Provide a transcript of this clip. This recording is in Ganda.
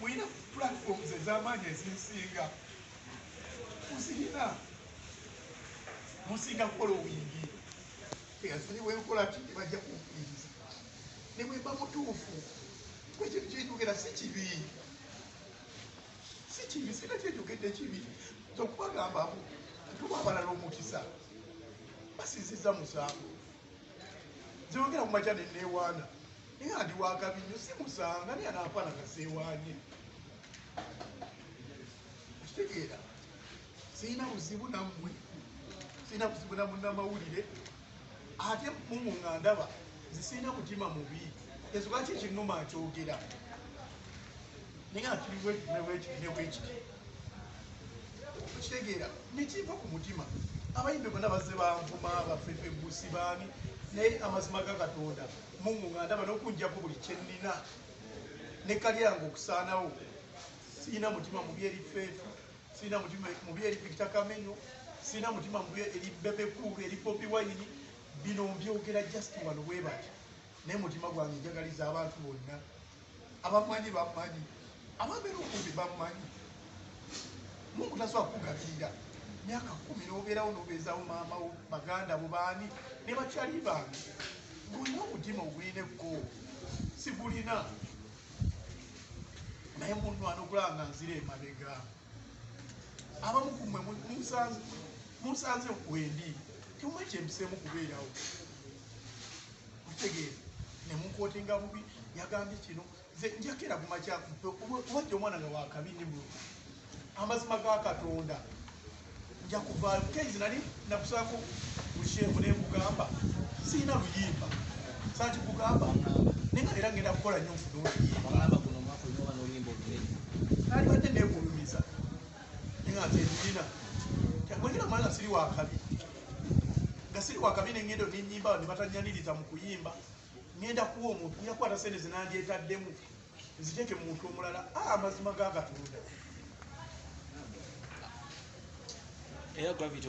mulina platforms ezamaanyi ezinsinga muzirina musinga kukola obuyingi eyasonyiwa enkola ti nebajja kumpuliriza ne bwemba mutuufu kwekintu kyenjogera si kibi si kibi sina kyenjogedde kibi tokubagambamu tuba abalala omukisa basinziza musango zeyogera ku makya neneewaana naye nga ndi wakabi nnyo si musanga naye anaafaana nga seewaanye okitegeera sirina buzibu nammwe sirina buzibu na munnamawulire ate mumu nga ndaba nze sirina mutima mubi ensonga ki ekinuma nkyogera naye nga kiri bwekiti ne bwekiti ne bwekiti okitegeera nekiva ku mutima abayimbi bona bazze banvuma bafefe busi baani naye amazima ga katonda mungu nga ndaba nokunjako buli kyenina ne kalyange okusaanawo sirina mutima mubi eri feetu sirina mutima mubi eri victor kamenyo sirina mutima mubi eri bebekulu eri bobi wayini bino mbyogera just wano webati naye mutima gwange njagaliza abantu bonna abamanyi bamanyi ababeera okumbi bamanyi mungu tasobola kukugabirira myaka kumi nobeerawo nobeezawo maama wo baganda bo baani ne bakyali bange ngolina omutima ogulina ekko sigulina naye munwana okulaba nga nzira emabegaamu abamu kumwe munsanze wendi temwe kyempiseemu kubeerawo otegeera nemunkootenga bubi yagambye kino nze njakera kumakyakuba jja omwana nga wakabi ne amazima ga katonda njakuvaayo kuko enze nali nakusako busheefu naye nkugamba sirina luyimba sati kugamba naye nga era ngenda kukola nyo nfuna oluyimba nalibadde negulumiza naye nga nzendulina wengera mwana siri wakabi nga siri wakabi nengendo nenyimba nebatanyaniriza mu kuyimba ngenda kuwa omuntu nyakwata sente zinandyetaddemu nzije gye muntu omulala a ah, amazima ga katonda era gravity